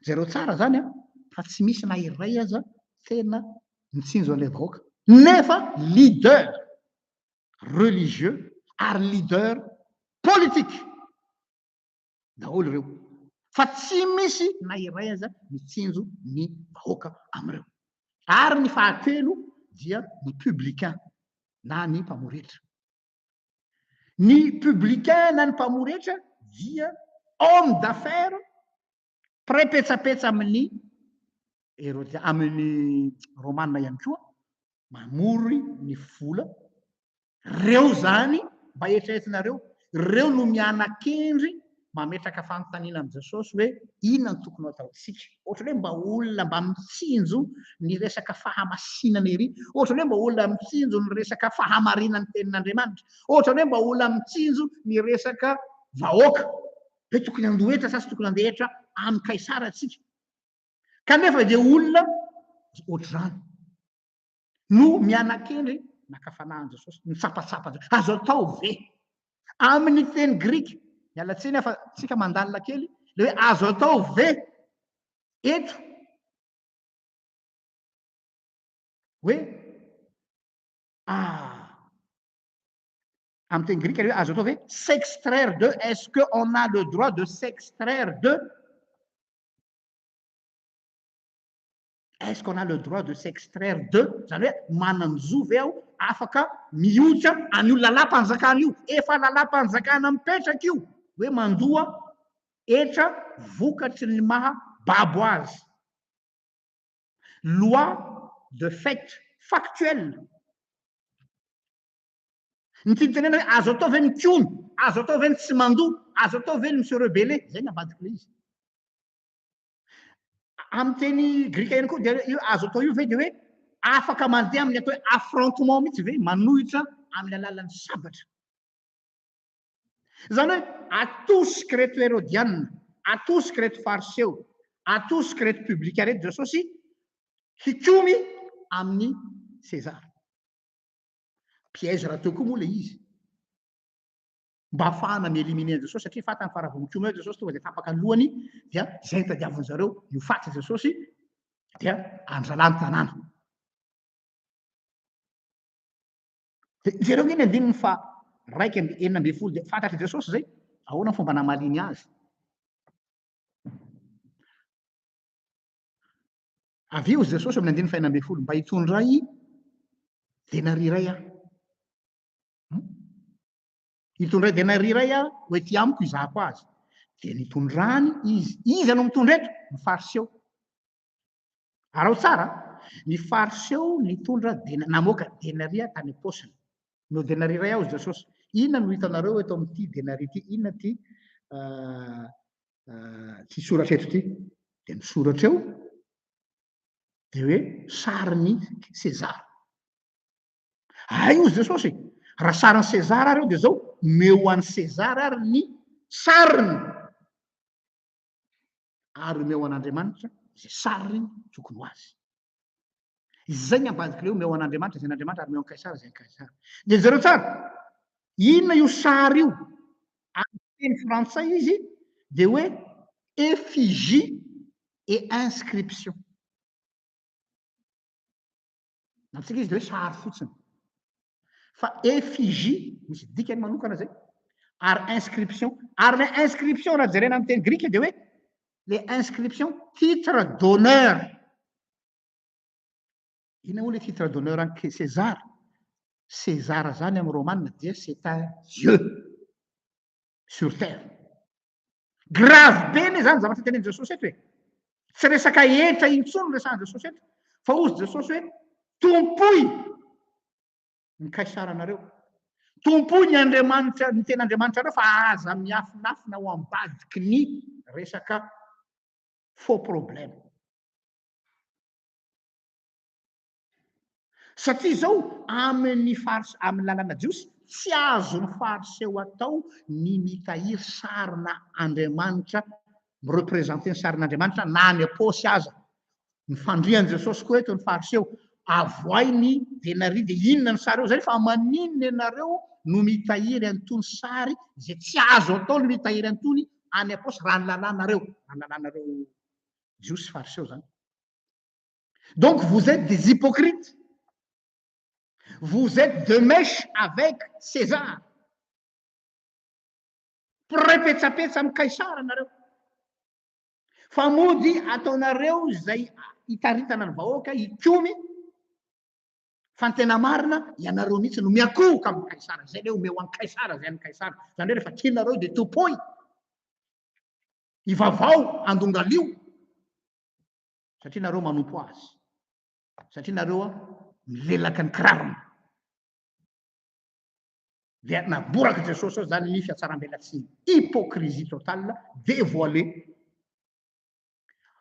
Speaker 1: Jereo tsara zany an, fa tsy misy na iray aza tena mitsinjo an'ilay vahoaka. Nefa leader religieux ary leader politique daholo ireo, fa tsy misy na iray aza mitsinjo ny vahoaka amin'ireo. Ary ny fahatelo dia ny publicain na ny mpamory hetra. Ny publicain na ny mpamory hetra dia homme d'affaires mpiray petsapetsa amin'ny erotia, amin'ny romana ihany koa, mamory ny vola. Reo zany mba eritreretinareo, reo no mianakendry mametraka fanontaniana amin'i Jesosy hoe inona no tokony hataontsika. Ohatran'ny hoe mba olona mba mitsinjo ny resaka fahamasinana ery. Ohatran'ny hoe mba olona mitsinjo ny resaka fahamarinan'ny tenin'Andriamanitra. Ohatran'ny hoe mba olona mitsinjo ny resaka vahoaka. Hoe tokony handoa hetra sa tsy tokony handeha hetra amin'i Kaisara antsika. Kanefa dia olona ohatr'izany. no miana-kendry naka fanahin'i Jesosy, nitsapatsapa an-dry. Azo atao ve? Amin'ny teny grika, miala tsiny aho fa tsika mandalina kely, le hoe azo atao ve eto hoe ah amin'ny teny grika le hoe azo atao ve s'extraire de est ce que on a le droit de s'extraire de Est ce qu'on a le droit de s'extraire de? Zany hoe manan-jo ve aho afaka mihotsa an'io lalam-panjakana io? Efa lalam-panjakana mipetraka io hoe mandoa hetra vokatry ny maha babo azy. Loi de fait factuel. Ny tiany tenena hoe azo atao ve mikony? Azo atao ve ny tsy mandoa? Azo atao ve ny mi-se rebeller? Zay ny ambadik'ilay izy. Amin'ny teny grika ihany koa dia io azo atao io ve dia hoe afaka mandeha amin'ny atao hoe affrontement mihitsy ve manohitra amin'ny alalan'ny sabatra. Izany hoe atosika ireto herodianina, atosika ireto fariseo, atosika ireto publika ireto Jesosy hikomy amin'ny Sezara. Piège rahateo koa moa ilay izy. mba hahafahana mi-éliminer an'i Jesosy satria fantany fa raha vao mikomy eo Jesosy tonga dia tapaka ny lohany dia izay no tadiavin'ny zareo ny ho faty Jesosy dia andralà ny tanàna. Dia jereo ny andininy fa raika amby enina ambin'ny folo dia fantatr'i Jesosy izay ahoana ny fomba namaliany azy. Avy eo Jesosy amin'ny andininy fahenina ambin'ny folo mba hitondray denariray aho. Hitondra denari iray aho ho ety amiko hizahako azy. Dia nitondrany izy. Iza no mitondra eto? Ny Fariseo. Araho tsara, ny Fariseo nitondra dena, namoaka denaria tany am-paosiny. No denari iray aho, Jesosy. Inona no hitanareo eto amin'ity denari ity? Inona ity uh, uh, tsy soratra eto ity? Dia misoratra eo, dia hoe sarin'i Sezara. Hay hozy Jesosy e, raha sarin'i Sezara ary eo dia izao, omeo ho an'i Sezara ary ny sariny, ary omeo ho an'Andriamanitra izay sariny tokony ho azy. Izay ny ambadik'ilay hoe omeo ho an'Andriamanitra izay an'Andriamanitra ary omeo an'i Kaisara izay an'i Kaisara. Dia jereo tsara, inona io sary io? Amin'ny teny frantsay izy dia hoe effigie et inscription. Ny antsika izy dia hoe sary fotsiny. Fa effigie, misy dikany manokana izay. Ary inscription. Ary ilay inscription raha jerena amin'ny teny grika dia hoe ilay inscription titre d'honneur. Inona moa ilay titre d'honneur an'i César? César izany amin'ny romanina dia c'est un dieu. sur terre. Grave be ne zany zavatra tenenin'i Jesosy eto e. Tsy resaka hetra intsony resahan'i Jesosy eto fa hozy Jesosy hoe tompoy ny kaisaranareo. Tompoy ny Andriamanitra ny tena Andriamanitrareo fa aza miafinafina ho ambadiky ny resaka faux problème. Satria izao amin' ny Fars amin' ny lalàna jiosy, tsy azon' ny Fariseo atao ny mitahiry sarina andriamanitra, mi-representer ny sarin' Andriamanitra na any am-paosy aza. Ny fandrian' Jesosy koa eto ny Fariseo, avohay ny denaria dia inona ny sary eo izay fa maninona ianareo no mitahiry an' itony sary izay tsy azo atao ny mitahiry an' itony any am-paosy raha ny lalànareo, raha ny lalànareo jiosy sy fariseo izany. Donc vous etes des hypocrites. Vous etes de mèche avec César. Mpiray petsapetsa amin'ny Kaisara nareo. Fa mody ataonareo izay hitaritana ny vahoaka hikomy fa ny tena marina ianareo mihitsy no miakohoka amin'ny Kaisara. Izay le omeo an'i Kaisara izay an'i Kaisara. Izany hoe rehefa tianareo dia tompoy. Ivavao, andongalio. satria nareo manompo azy satria nareo a milelaka ny kirarony dia naboraka jesosy ao zany ny fiatsarambelatsiny hypocrisie totale dévoilé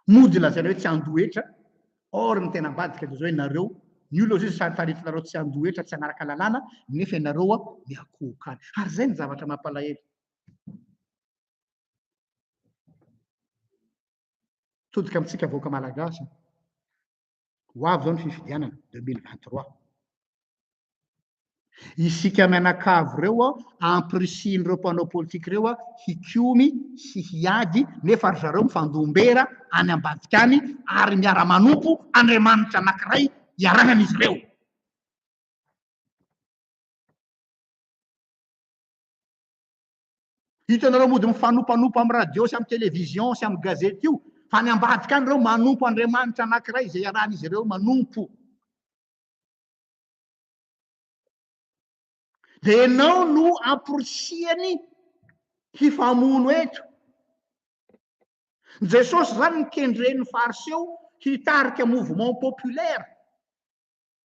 Speaker 1: mody lazaina hoe tsy andohetra or ny tena ambadika de zao ianareo ny olona zay sary taritinareo tsy andohetra tsy anaraka lalàna nefa ianareo a miakohokany ary zay ny zavatra mampalahelo Todika amintsika vahoaka Malagasy. Ho avy izao ny fifidianana 2023. Isika mianakavy ireo ampirisihin'ireo mpanao politika ireo hikomy sy hiady nefa ry zareo mifandombera any ambadika any ary miara-manompo Andriamanitra anankiray iarahan'izy ireo. Hitanareo mody mifanopanompa amin'ny radio sy amin'ny television sy amin'ny gazety io fa any ambadika any ireo manompo andriamanitra anankiray izay iarahan'izy ireo manompo. Dia ianao no amporisihany hifamono eto. Jesosy izany ny kendren'ny fariseo hitarika mouvement populaire.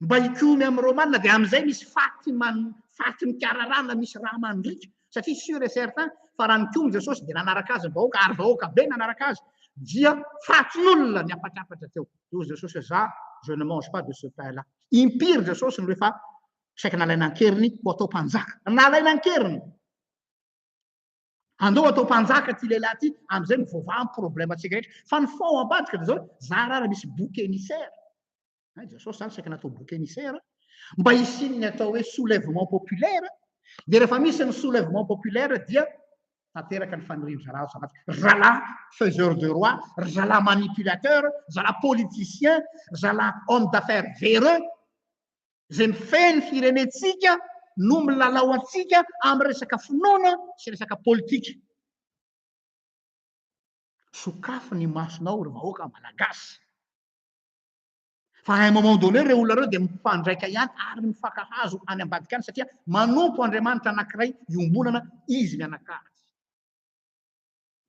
Speaker 1: Mba hikomy amin'ny Romana dia amin'izay misy faty man, faty mikararana misy rà mandriaka. Satria sûr et certain fa raha nikomy Jesosy dia nanaraka azy ny vahoaka ary vahoaka be nanaraka azy dia fatin'olona niapatrapatra teo. Dia hoy Jesosy hoe za je ne mange pas de ce pain là. Impiry Jesosy no rehefa saika nalaina an-keriny ho atao mpanjaka. Nalaina an-keriny. Andao atao mpanjaka ty lehilahy ty, amizay mivoavaha ny problème tsika rehetra. Fa ny fond ambadika dia zao, zara ary misy bouc émissaire, hay Jesosy zany saika natao bouc émissaire, mba hisian'ny atao hoe soulèvement populaire, dia rehefa misy ny soulèvement populaire dia tanteraka ny fanirian-drahalahy ao Savatiky. Ry zalahy faiseur de roi, ry zalahy manipulateur, ry zalahy politicien, ry zalahy homme d'affaires véreux, izay mifehy ny firenentsika no milalao antsika amin'ny resaka finoana sy resaka politika. Sokafy ny masonao ry vahoaka malagasy. Fa à un moment donné ireo olona ireo dia mifandraika ihany ary mifankahazo any ambadika any satria manompo Andriamanitra anankiray iombonana izy mianakavy.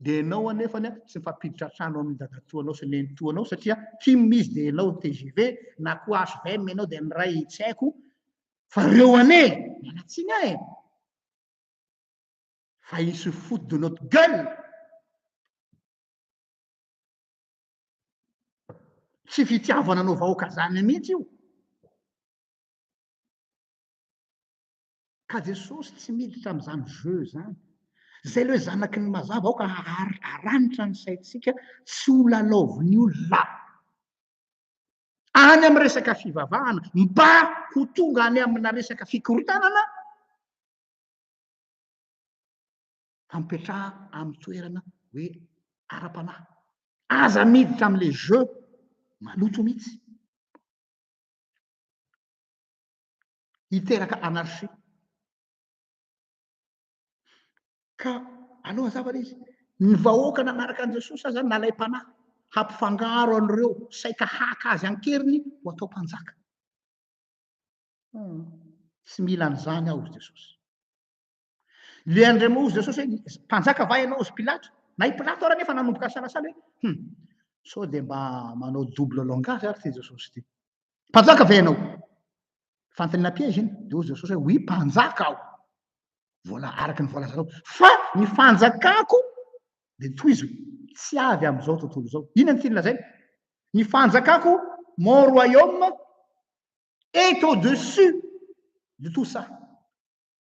Speaker 1: Dia ianao anefany a, tsy mifampiditra an-trano amin'ny dadatoanao sy nenitoanao satria Kim izy dia ianao ny tgv, na koa hvm ianao dia ny ray tsy haiko fa reo anie! Miala tsiny aho e! Fa il se fout de notre gueule! Tsy fitiavana anao vahoaka zany mihitsy io! Ka Jesosy tsy miditra amin'izany jeu izany. Izay le zanaky ny mazava, aoka haranitra ny saintsika tsy ho lalaovin'ny olona any amin'ny resaka fivavahana mba ho tonga any amina resaka fikorontanana fa mipetraha amin'ny toerana hoe ara-panahy. Aza miditra amin'ilay jeu maloto mihitsy. hiteraka anarchie. Ka aleo hazava ilay izy, ny vahoaka nanaraka an'i Jesosy aza nalaim-panahy hampifangaro an'ireo saika haka azy an-keriny ho atao mpanjaka. Tsy mila an'izany aho, hoy Jesosy. Le andriamao ozy jesosy hoe mpanjaka va ianao ozy pilato na i pilato ary anefa nanomboka nisalasala hoe hum sao dia mba manao double langage ary ity jesosy ity mpanjaka va ianao fantanina piège iny dia ozy jesosy hoe oui mpanjaka aho vola araka ny voalazanao fa ny fanjakako dia tohizo tsy avy amin'izao tontolo izao inona ny tiany lazaina ny fanjakako mon royaume est au dessus de tout ça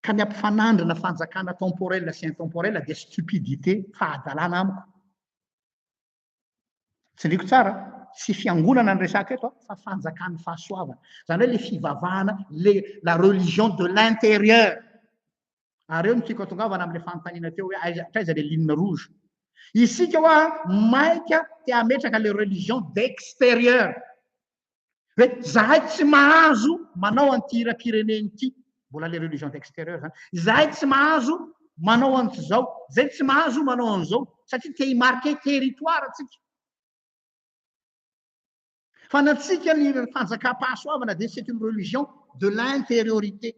Speaker 1: Ka ny ampifanandrina fanjakana temporel sy intemporel dia stupidité, fahadalana amiko. Tsindriko tsara, tsy fiangonana ny resaka eto fa fanjakan'ny fahasoavana. Izany hoe le fivavahana, le la religion de l'intérieur. Ary eo no tiako atongavana amin'ilay fanontaniana teo hoe aiza hatraiza le ligne rouge. Isika hoa maika te hametraka le religion d'extérieur. Hoe zahay tsy mahazo manao an'ity hiram-pirenena ity, mbola les religions d'extérieur izany, izahay tsy mahazo manao an'izao, izay tsy mahazo manao an'izao, satria te hi-marquer territoire antsika. Fa ny antsika ny fanjakam-pahasoavana dia c'est une religion de l'intériorité.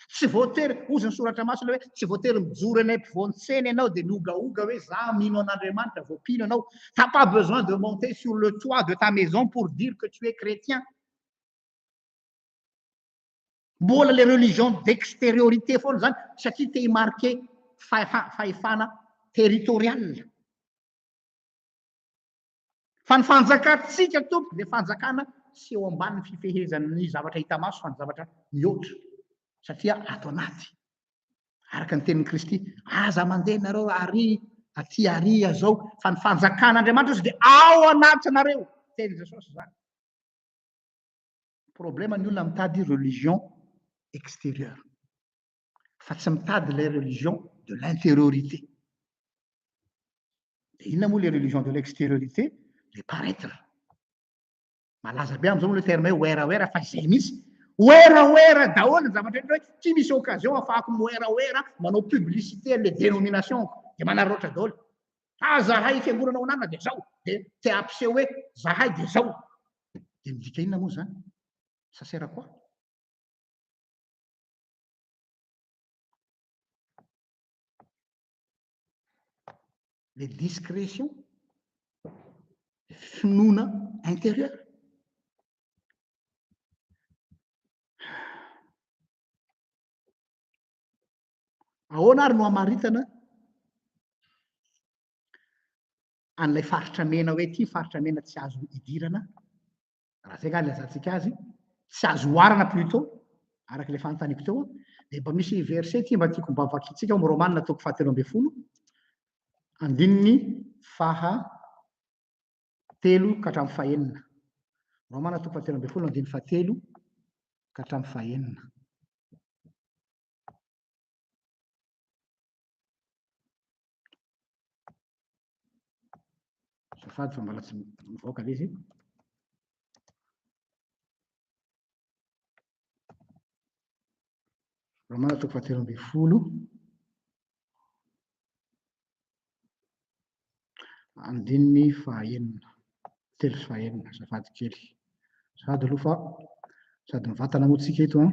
Speaker 1: Tsy voatery, hozy ny soratra masina hoe, tsy voatery mijoro eny ampovoan-tsena ianao dia miogaoga hoe za mino an'Andriamanitra vao mpino ianao. T'as pas besoin de monter sur le toit de ta maison pour dire que tu es chrétien. Mbola le religion d'extériorité foana zany satria te hi-marquer fahefana territorial. Fa ny fanjakantsika tompoko dia fanjakana tsy eo ambanin'ny fifehezan'ny zavatra hita maso fa ny zavatra mihoatra satria ato anaty. Araka ny tenin'i Kristy, aza mandeha nareo ary aty ary azao fa ny fanjakan'Andriamanitra ozy dia ao anatinareo. Teny Jesosy izany. Problema ny olona mitady religion extérieure. fa tsy mitady ilay religion de l'intériorité. Dia inona moa ilay religion de l'extériorité? Le paraître. Malaza be amin'izao moa ilay terme hoe wera wera fa izay mihitsy. Wera wera daholo ny zavatra rehetra hoe ity misy occasion afahako mi-wera wera manao publicité an'ilay dénomination-ko. Dia manararaotra daholo. Fa zahay fiangonana ao anarina dia izao. Dia te hampiseho hoe zahay dia izao. Dia midika inona moa izany? Ça sert à quoi? le discretion, finoana intérieur. Ahoana ary no amaritana an'ilay faritra mena hoe ity faritra mena tsy azo idirana raha zay nga ilazantsika azy, tsy azo oharana plutot, araka ilay fanontaniako teo, dia mba misy verset ity mba tiako mba vakintsika ao amin'ny Romana toko fahatelo ambin'ny folo, andininy faha telo ka hatramin'ny fahenina. Romana toko fahatelo ambin'ny folo andininy faha telo ka hatramin'ny fahenina. Azafady fa mbola tsy mivoaka ilay izy. Romana toko fahatelo ambin'ny folo. Andininy fahaenina, telo sy fahaenina, azafady kely. Sady aloha fa sady mivantana moa tsika eto an.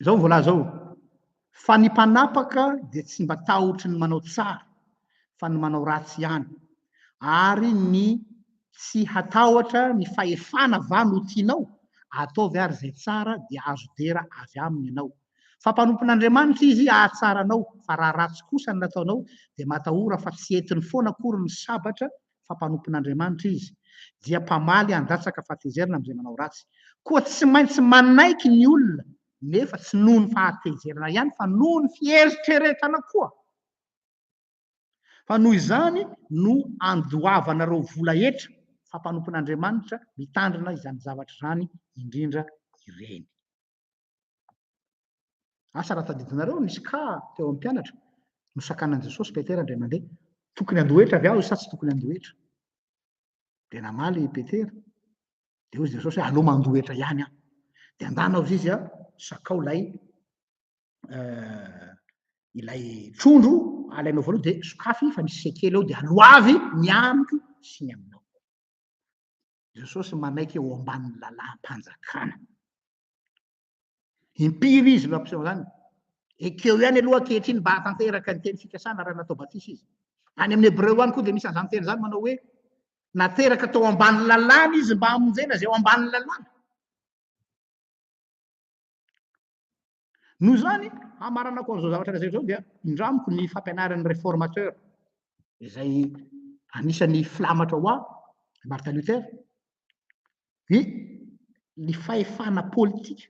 Speaker 1: Izao ny voalaza ao, fa ny mpanapaka dia tsy mba tahotry ny manao tsara fa ny manao ratsy ihany, ary ny tsy hatahotra ny fahefana va no tianao? ataovy ary izay tsara dia azo dera avy aminy ianao. Fa mpanompon'Andriamanitra izy hahatsara anao, fa raha ratsy kosa ny nataonao dia matahora fa tsy entiny foana akory ny sabatra fa mpanompon'Andriamanitra izy, dia mpamaly handatsaka fahatezerana amin'izay manao ratsy. Koa tsy maintsy manaiky ny olona, nefa tsy noho ny fahatezerana ihany, fa noho ny fieritreretana koa. Fa noho izany no andoavanareo vola hetra, fa mpanompon'Andriamanitra mitandrina izany zavatra izany indrindra ireny. Asa raha tadidinareo nisy ka teo amin'ny mpianatra nosakanan'i Jesosy Petera indray mandeha. Tokony handoa hetra avy aho sa tsy tokony handoa hetra? Dia namaly i Petera. Dia hoy Jesosy hoe aleo mandoa hetra ihany aho. Dia andana hozy izy a, sakao ilay eh, ilay trondro alainao voalohany dia sokafy fa nisy sekely eo dia aloavy ny amiko sy ny aminao. Jesosy manaiky eo ambanin'ny lalàm-panjakana. Impiry izy no ampiseho an'izany? Ekeo ihany aloha ankehitriny mba hahatanteraka ny teny fikasana raha natao batisa izy. Any amin'ny Hebreo any koa dia misy an'izany teny izany manao hoe nateraka tao ambanin'ny lalàna izy mba hamonjena izay ao ambanin'ny lalàna. Noho izany, hamaranako an'izao zavatra lazaiko izao dia indramiko ny fampianaran'ny réformateur izay anisan'ny filamatra ho ahy, Martin Luther, dia ny fahefana politika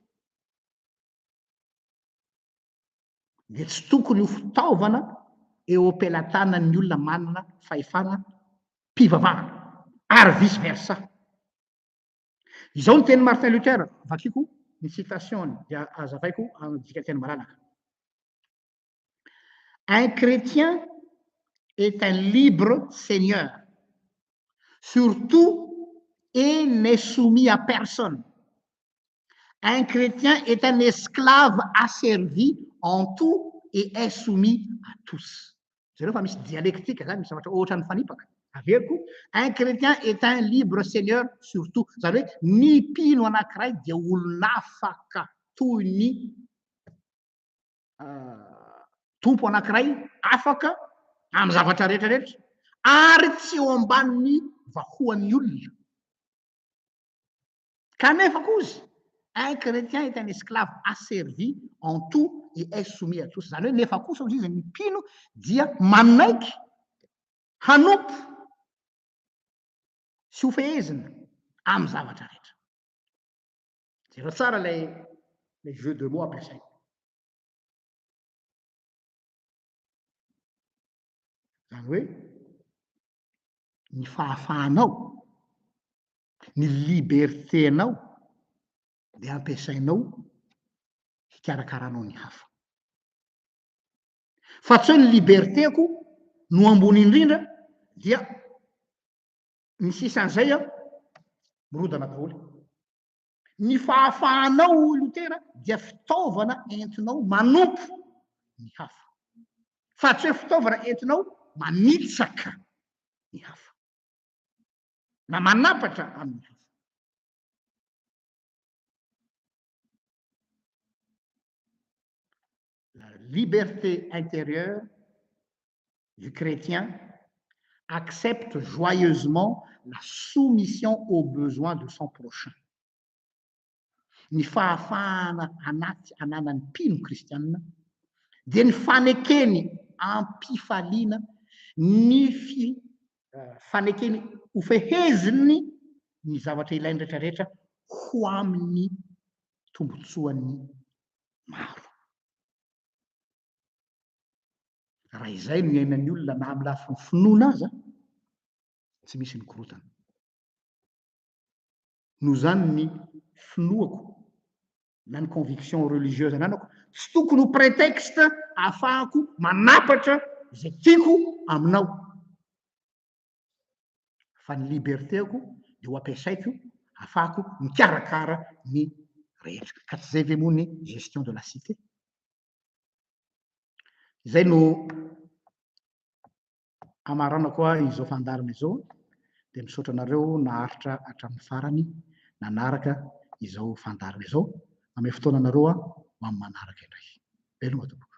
Speaker 1: dia tsy tokony ho fitaovana eo am-pelatanan'ny olona manana fahefana mpivavahana ary vice versa. Izao ny tenin'i Martin Luther, vakiko ny citation-ny dia azavaiko amin'ny dikanteny malalaka. Un chrétien est un libre seigneur sur tout et n'est soumis à personne. Un chrétien est un esclave asservi en tout et est soumis à tous. Jereo fa misy dialectique zany, misy zavatra ohatra mifanipaka. Averiko, un chrétien est un libre seigneur sur tout. Zany hoe ny mpino anankiray dia olon'afaka toy ny Tompo anankiray afaka amin'ny zavatra rehetra rehetra ary tsy eo ambanin'ny vahoan'ny olona. Kanefa kozy, un chrétien est un esclave asservi en tout et est soumis à tous. Izany hoe nefa kosa hozy izy ny mpino dia manaiky hanompo sy hofehezina amin'ny zavatra rehetra. Jereo tsara ilay ilay jeu de mots ampiasaina. Izany hoe ny fahafahanao, ny liberté-nao dia ampiasainao hikarakaranao ny hafa. Fa tsy hoe ny liberté-ko no ambony indrindra dia Ny sisa an'izay an, mirodana daholo. Ny fahafahanao hoy Lotera dia fitaovana entinao manompo ny hafa, fa tsy hoe fitaovana entinao manitsaka ny hafa na manapatra amin'ny hafa. la liberté intérieure du chrétien accepte joyeusement la soumission aux besoins de son prochain. Ny fahafahana anaty ananan'ny mpino kristianina dia ny fanekeny am-pifaliana ny fi, uh, fanekeny hofeheziny ny zavatra ilainy rehetrarehetra ho amin'ny tombotsoan'ny maro. Raha izay no iainan'ny olona na amin'ny lafiny finoana aza, tsy misy ny korontana. Noho izany ny finoako na ny conviction religieuse ananako tsy tokony ho prétexte ahafahako manapatra izay tiako aminao. fa ny liberté-ko dia ho ampiasaiko hafahako mikarakara ny rehetra, ka tsy zay ve moa ny gestion de la cité? Izay no hamaranako ahy izao fandaharana izao dia misaotra anareo naharitra hatramin'ny farany nanaraka izao fandaharana izao, manome fotoana anareo aho ho amin'ny manaraka indray. Veloma tompoko.